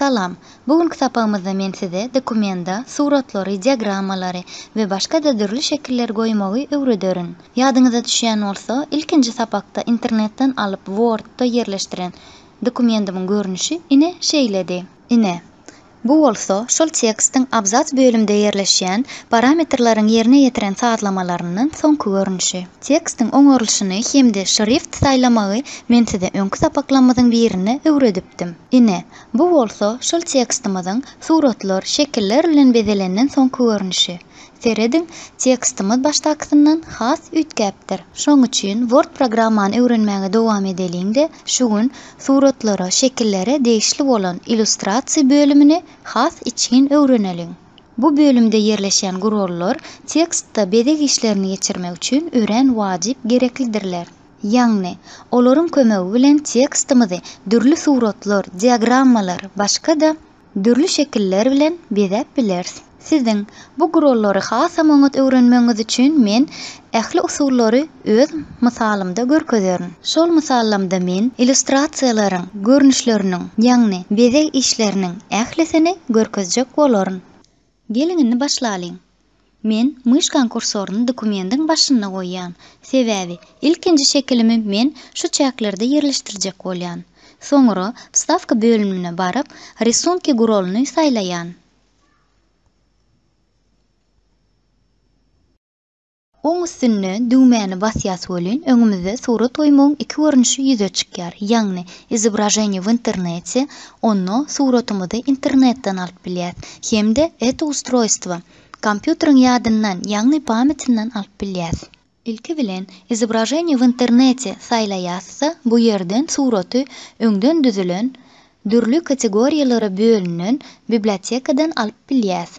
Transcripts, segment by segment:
Salam. Bu günki sapagymyzda men size dokumenta suratlary, diagrammalary we başga-da dürli şekilleri goýmagy öwrederin. Ýadyňyza düşýän bolsa, ilkinji sapakda internetden alyp Word-da ýerleşdiren dokumentimiň görnüşi ine şeýledi. Ine, Bu bolsa şol tekstiň abzas bölümde ýerleşýän parametrleriň ýerine ýetiren sazlamalarynyň soňky görnüşi. Tekstiň oňarylyşyny hem-de şrift saýlamagy men size öňki sapaklarymyzyň birinde öwredipdim. Ine, bu bolsa şol tekstimiziň suratlar, şekiller bilen bezelenden soňky görnüşi. Serediň, tekstimiz başdakysyndan has üýtgäpdir. Şoň üçin Word programmany öwrenmäge dowam edeliň-de, şu gün Suratlara, şekillere degişli bolan Illustrasiýa bölümini has içgin öwreneliň. Bu bölümde ýerleşýän gurallar tekstde bezeg işlerini geçirmek üçin örän wajyp gereklidirler. Ýagny, olaryň kömegi bilen tekstimizi dürli suratlar, diagrammalar, başga-da, dürli şekiller bilen bezäp bileris. Siziň bu gurollary hasam oňat öwrenmegiňiz üçin men ähli usullary öz mysalymda görkezerin. Şol mysallamda men illýustrasiýalaryň görnüşleriniň, ýagny bezeg işleriniň ählisini görkezjek bolaryn. Geliň indi başlalyň. Men myşkaň kursoryny dokumendiň başynda goýýan, sebäbi ilkinji şekilimi men şu çäklerde ýerleşdirjek bolýan. Soňra wstawka bölümine baryp, Rysunki guralyny saýlaýan. Oň üstünde düwmäni basýas welin öňümizde surat goýmagyň iki görnüşi ýüze çykýar, ýagny Izobraženiýe w internete, onda suratymyzy internetden alyp bilýäs, hem-de Eto ustrojstwo, kompýuteriň ýadyndan, ýagny pametinden alyp bilýäs. Ilki bilen Izobraženiýe w internete saýlaýasda bu ýerden suraty öňden düzülen, dürli kategoriýalara bölünen bibliotekadan alyp bilýäs.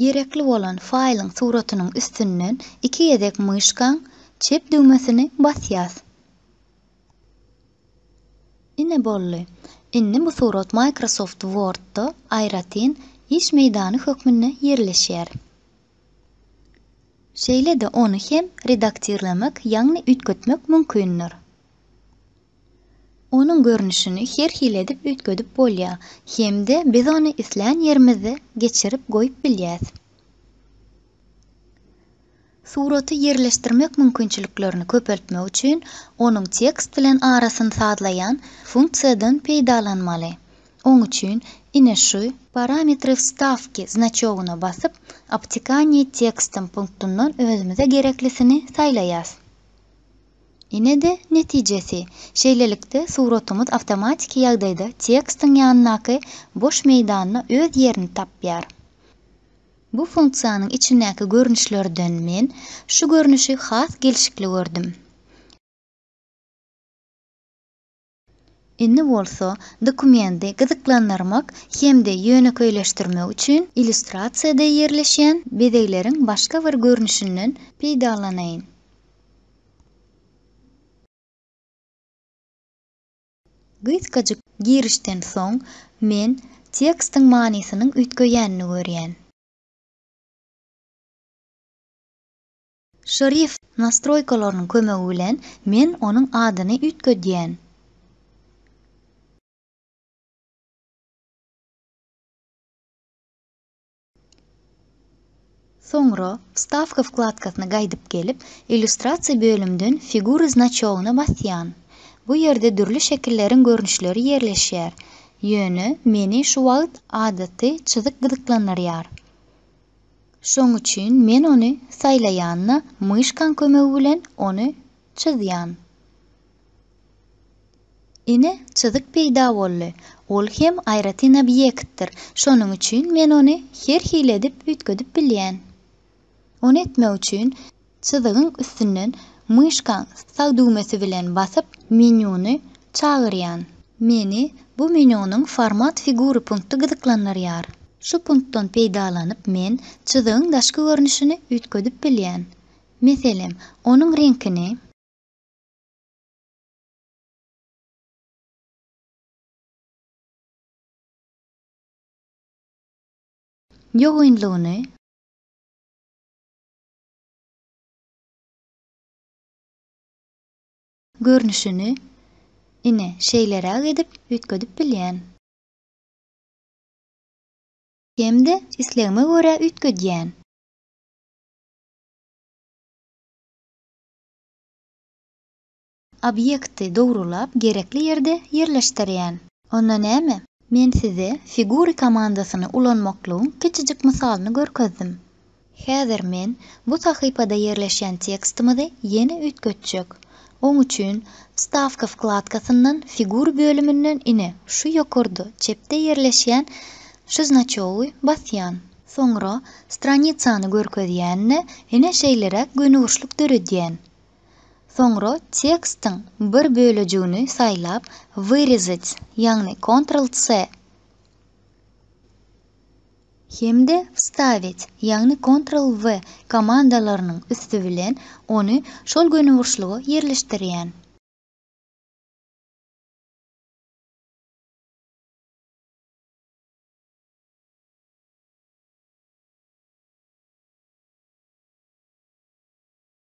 Gerekli bolan faýlyň suratynyň üstünden iki gezek myşkaň çep düwmesini basýas. Ine boldy. Indi bu surat Microsoft Word-da aýratyn iş meýdany hökmünde ýerleşýär. Şeýle-de ony hem redaktirlemek ýagny üýtgetmek mümkindir. Onuň görnüşini her hili edip üýtgedip bolýar hem-de biz ony islän ýerimizde geçirip goýup bilýäs. Suraty ýerleşdirmek mümkinçiliklerini köpeltmek üçin onuň tekst bilen arasyny sazlaýan funksiýadan peýdalanmaly. Oň üçin ine şu. Parametry wstawki znaçogyna basyp, Obtikanie tekstem punktundan özümize gereklisini saýlaýas. Ine-de netijesi. Şeýlelikde, suratyňyz awtomatiki ýagdaýda tekstiň ýanyndaky boş meýdanda öz ýerini tapýar. Bu funksiýanyň içindäki görnüşlerden men şu görnüşi has gelşikli gördüm. Indi bolsa dokumenti gyzyklandyrmak hem-de ýönekeýleşdirmek üçin illýustrasiýada ýerleşýän bezegleriň başga bir görnüşinden peýdalanaýyn. Gysgajyk girişden soň, men tekstiň manysynyň üýtgeýänini görýän. Şrift nastroýkalarynyň kömegi bilen men onuň adyny üýtgedýän. Soňra Wstawka wkladkasyna gaýdyp gelip, Illýustrasiýa bölümden Figury znaçogyna basýan. Bu ýerde dürli şekilleriň görnüşleri ýerleşýär. Ýöne meni şu wagt adaty çyzyk gyzyklandyrýar. Şoň üçin men ony saýlaýan-da, myşkaň kömegi bilen ony çyzýan. Ine, çyzyk peýda boldy. Ol hem aýratyn obýektdir. Şonuň üçin men ony her hili edip üýtgedip bilýän. Ony etmek üçin, Çyzygyň üstünden myşkaň sag düwmesi bilen basyp, menýuny çagyrýan. Meni bu menýunyň Format figury punkty gyzyklandyrýar. Şu punktdan peýdalanyp men çyzygyň daşky görnüşini üýtgedip bilýän. Meselem, onuň reňkini. Ýogynlygyny. Görnüşini, ine, şeýleräk edip, üýtgedip bilýän. Hem-de islegime görä üýtgedýän. Obýekti dogrulap gerekli ýerde ýerleşdirýän. Onda näme? Men size Figuri komandasyny ulanmaklygyň kiçijik mysalyny görkezdim. Häzir men bu sahypada ýerleşýän tekstimizi ýene üýtgetjek. Oň üçin Wstawka wkladkasyndan Figuri bölüminden ine şu ýokarda çepde ýerleşýän şu znaçogy basýan. Soňra stranicany görkezýän-de ine şeýleräk gönüburçluk döredýän. Soňra tekstiň bir bölejigini saýlap Wyrezat, ýagny Ctrl-C, hem-de Wstawit, ýagny Ctrl-V, komandalarynyň üsti bilen ony şol gönüburçluga ýerleşdirýän.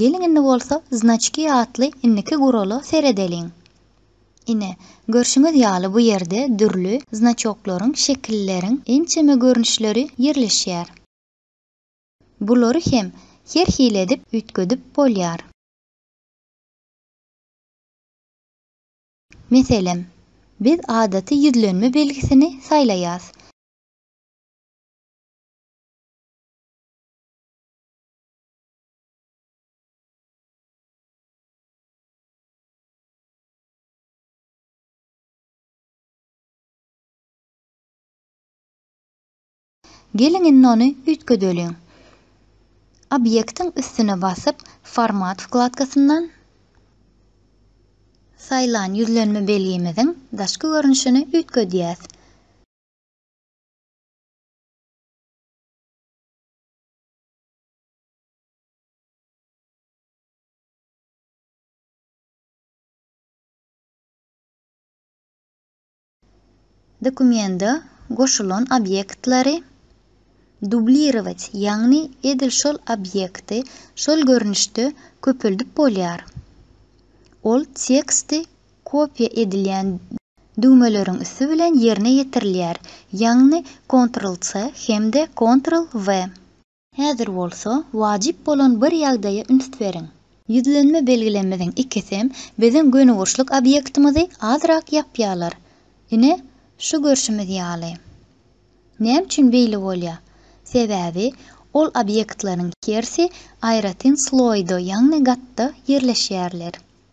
Geliň indi bolsa znaçki atly indiki gurala seredeliň. Ine, görşüňiz ýaly bu ýerde dürli znaçoklaryň, şekilleriň ençeme görnüşleri ýerleşýär. Bulary hem her hili edip üýtgedip bolýar. Meselem, biz adaty ýüzlenme belgisini saýlaýas. Geliň indi ony üýtgedeliň. Obýektiň üstüne basyp, Format wkladkasyndan Saýlan ýüzlenme belgimiziň daşky görnüşini üýtgedýäs. Dokumenta goşulan obýektleri dublirować, ýagny edil şol obýekti şol görnüşde köpeldip bolýar. Ol teksti kopiýa edilýän düwmeleriň üsti bilen ýerine ýetirilýär, ýagny Ctrl-C hem-de Ctrl-V. Häzir bolsa wajyp bolan bir ýagdaýa üns beriň. Ýüzlenme belgilemizin ikisem biziň gönüburçluk obýektimizi azrak ýapýarlar. Ine, şu görşümiz ýaly. Näme üçin beýle bolýar? Sebäbi ol obýektleriň hersi aýratyn sloýda, ýagny gatda ýerleşýärler.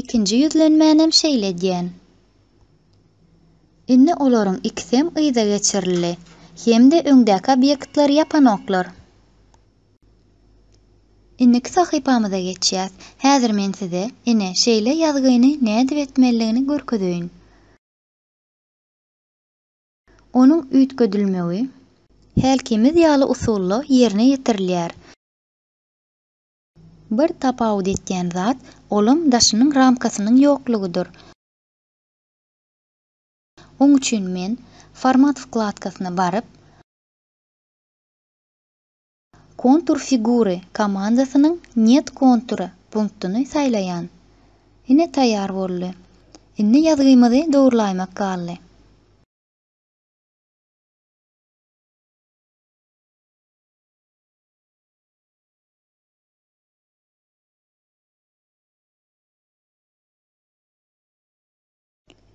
Ikinji ýüzlenmänem şeýle edýän. Indi olaryň ikisem yza geçirildi. Hem-de öňdäki obýektleri ýapanoklar. Indiki sahypamyza geçýäs. Häzir men size, ine, şeýle ýazgyny nädip etmelidigini görkezeýin. Onuň üýtgedilmegi hälkimiz ýaly usulda ýerine ýetirilýär. Bir tapawut etýän zat, olam daşynyň ramkasynyň ýoklugydyr. Oň üçin men Format wkladkasyna baryp, Kontur figury komandasynyň Net kontury punktyny saýlaýan. Ine taýýar boldy. Indi ýazgymyzy dogrulaýmak galdy.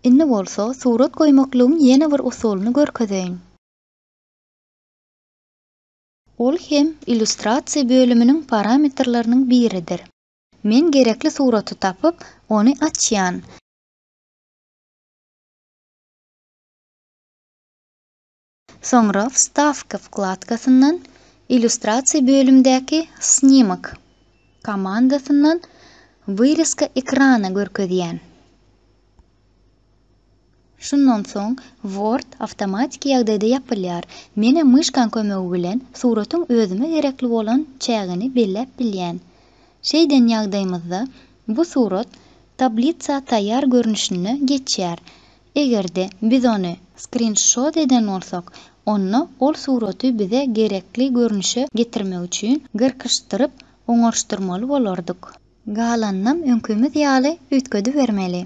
Indi bolsa surat goýmaklygyň ýene bir usulyny görkezeýin. Ol hem illýustrasiýa bölüminiň parametrleriniň biridir. Men gerekli suraty tapyp, ony açýan. Soňra Wstawka wkladkasyndan Illýustrasiýa bölümdäki Snimak komandasyndan Wyrezka ekrana görkezýän. Şundan soň Word awtomatiki ýagdaýda ýapylýar. Menä myşkaň kömegi bilen suratyň özüme gerekli bolan çägini belläp bilýän. Şeýden ýagdaýymyzda bu surat tablitsa taýýar görnüşine geçýär. Eger-de biz ony skrinşot eden bolsak, onda ol suraty bize gerekli görnüşe getirmek üçin gyrkyşdyryp oňaryşdyrmaly bolardyk. Galanynam öňkimiz ýaly üýtgedibermeli.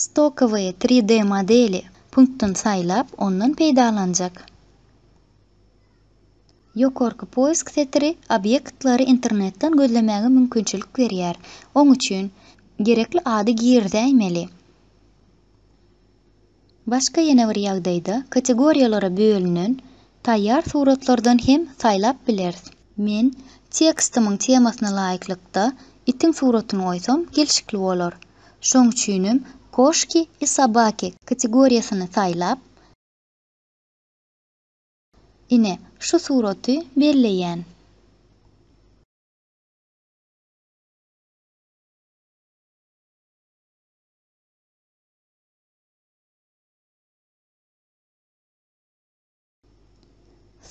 Stokowyý 3D modeli punktdan saýlap, ondan peýdalanjak. Ýokarky poýsk setiri obýektlary internetden gözlemäge mümkinçilik berýär. Oň üçin, gerekli ady girizäýmeli. Başga ýene bir ýagdaýda kategoriýalara bölünen taýýar suratlardan hem saýlap bileris. Men tekstimiň temasyna laýyklykda itiň suratyny goýsam gelşikli bolar. Şoň üçinem Koşki i sobaki kategoriýasyny saýlap, ine, şu suraty belleýän.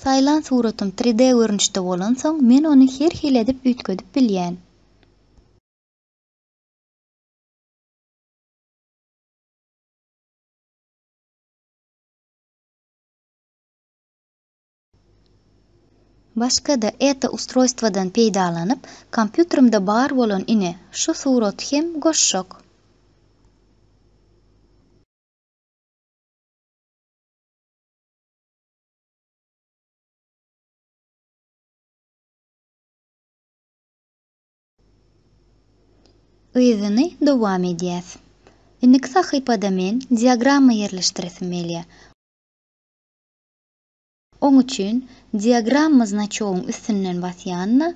Saýlan suratym 3D görnüşde bolansoň, men ony her hili edip üýtgedip bilýän. Başga-da eta ustrojstwadan peýdalanyp, kompýuterimde bar bolan ine, şu suraty hem goşjak. Yzyny dowam edýäs. Indiki sahypada men diagramma ýerleşdiresim gelýär. Oň üçin Diagramma znaçogyň üstünden basýanda,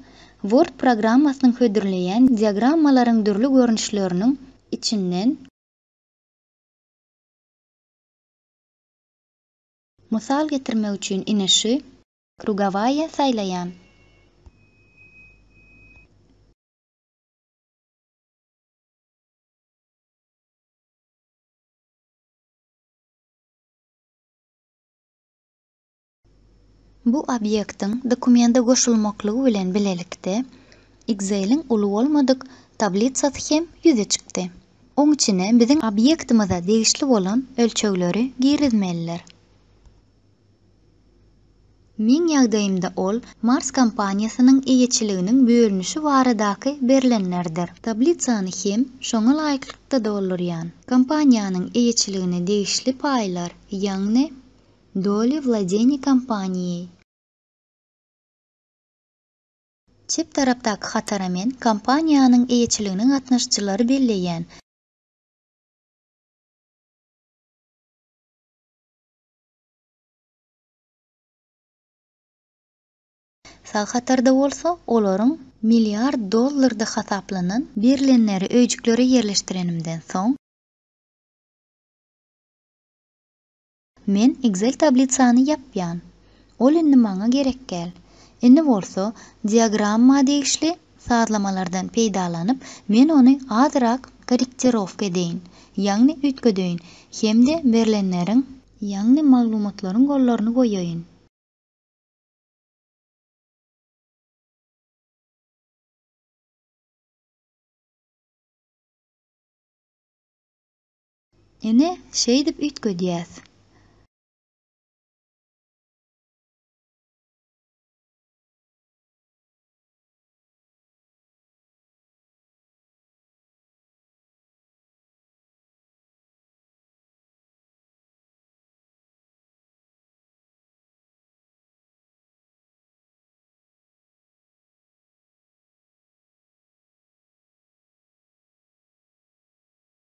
Word programmasynyň hödürleýän diagrammalaryň dürli görnüşleriniň içinden, mysal getirmek üçin inişi, krugowaýa, saýlaýan. Bu obýektiň dokumenta goşulmaklygy bilen bilelikde, Excel-iň uly bolmadyk tablitsasy hem ýüze çykdy. Oň içine biziň obýektimize degişli bolan ölçegleri girizmelidir. Meň ýagdaýymda ol Mars kompaniýasynyň eýeçiliginiň bölünişi baradaky berlenlerdir. Tablitsany hem şoňa laýyklykda doldurýan. Kompaniýanyň eýeçiligine degişli paýlar. Ýagny, doly wladeniýe kompaniýi. Çep tarapdaky hatara men kompaniýanyň eýeçiligine gatnaşyjylary belleýän. Sag hatarda bolsa olaryň milliard dollarda hasaplanan. Berlenleri öýjüklere ýerleşdirenimden soň. Men Excel tablitsany ýapýan. Ol indi maňa gerekgäl. Indi bolsa diagramma degişli sazlamalardan peýdalanyp, men ony azyrak korrektirowka edeýin, ýagny üýtgedeýin hem-de berlenleriň, ýagny maglumatlaryň gollaryny goýaýyn. Ine, şeýdip üýtgedýäs.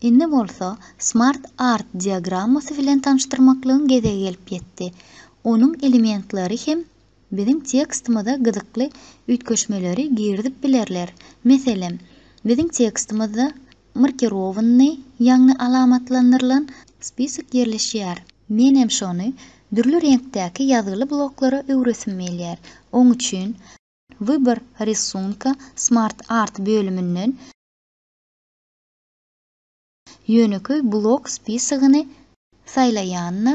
Indi bolsa Smart Art diagrammasy bilen tanyşdyrmaklygyň gezegi gelip ýetdi. Onuň elementleri hem biziň tekstimize gyzykly üýtgeşmeleri girizip bilerler. Meselem, biziň tekstimizde markirowanyny, ýagny alamatlandyrylan, spisok ýerleşýär. Menem şony dürli reňkdäki ýazgyly bloklara öwresim gelýär. Oň üçin Wybor rysunka Smart Art bölüminden. Ýönekeý blok spisagyny saýlaýanyna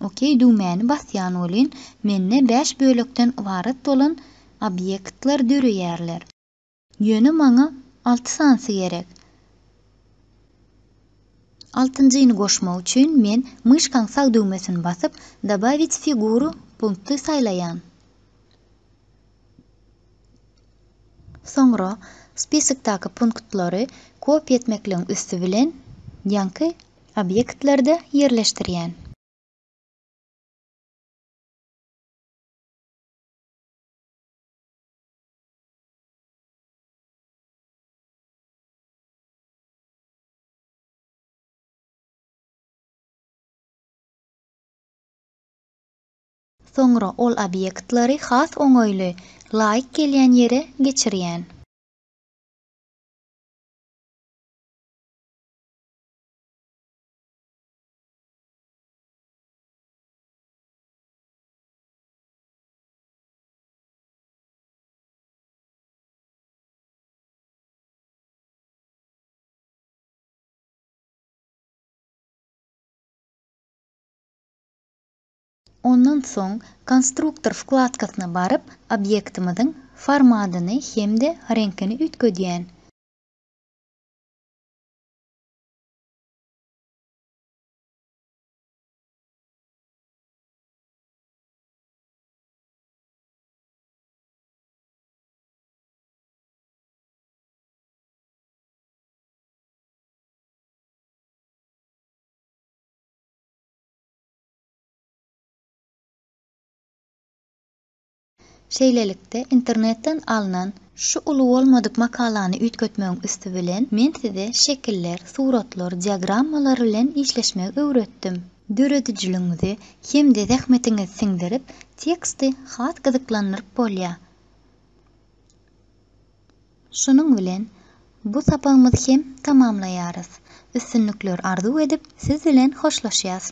OK düwmäni basýan welin, mende bäş bölekden ybarat bolan obýektler döreýärler. Ýöne maňa alty sanysy gerek. Altynjyny goşmak üçin men myşkaň sag düwmesini basyp, Dobawit figuru punkty saýlaýan. Soňra spisikdaky punktlary kopiýa etmekligiň üsti bilen ýaňky obýektlerde ýerleşdirýän. Soňra ol obýektleri has oňaýly, laýyk gelýän ýere geçirýän. Ondan soň Konstruktor wkladkasyna baryp, obýektimiziň formadyny hem-de reňkini üýtgedýän. Şeýlelikde, internetden alnan şu uly bolmadyk makalany üýtgetmegiň üsti bilen, men size şekiller, suratlar, diagrammalar bilen işleşmegi öwretdim. Döredijiligiňizi hem-de zähmetiňizi siňdirip, teksti has gyzyklandyryp bolýar. Şunuň bilen bu sapagymyzy hem tamamlaýarys. Üstünlikler arzuw edip siz bilen hoşlaşýas.